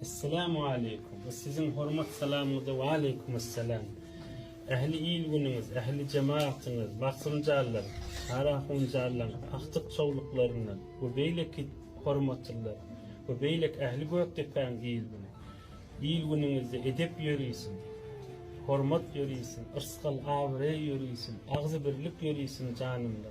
Essalamualeýkum. Bu siziň hormat salamyňyza waleýkumessalam. Ähli il-günüňiz, ähli jemagatyňyz, basymjallar, Karaahunjallar, Agtyk çowluklaryny we beýleki hormatlylar we beýleki ähli Gökdepäň il-güni. Il-günüňizde edep ýörisin, hormat ýörisin, yrsgal-abraý ýörisin, agzybirlik ýörisin janymda.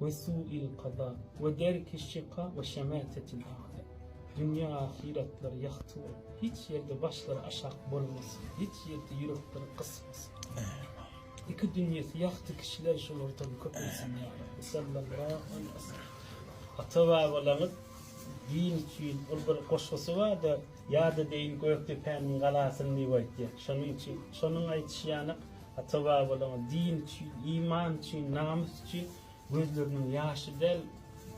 we su'il kaza we derki şika we şematetil a'da. Dünýe ahyratlar ýagty bolup, hiç ýerde başlary aşak bolmasyn, hiç ýerde ýürekleri gysmasyn. Iki dünýesi ýagty kişiler şolardan köpelsin ýa Rabbi. Sallallahu aleyhi ve sellem. Ata babalaňyz din üçin ol bir goşgusy bardy. Ýa-da deýin Gökdepäniň galasyny diýip aýtýar. Şonuň üçin şonuň aýdyşy ýanak Ata-babalaryň din üçin, iman üçin, namys üçin gözleriniň ýaşy däl,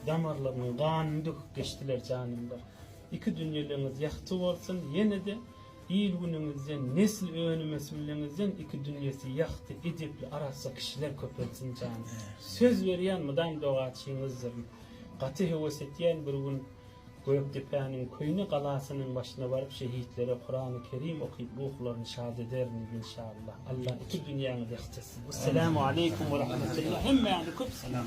damarlarynyň ganyny döküp geçdiler janymlar. Iki dünýeleňiz ýagty bolsun, ýene-de il-günüňizden, nesil önümesimliňizden iki dünýesi ýagty, edepli, arassa kişiler köpelsin janymlar. Söz berýän mydam dogaçyňyzdyryn. Gaty höwes etýän bir gün. Gökdepäniň köýne galasynyň başyna baryp şehitlere Kurany Kerim okyp ruhlaryny şad ederin inşallah. Allah iki dünýäňizi ýagtyrsyn. Essalamu aleýkum we rahmetullah hemmäňize köp salam.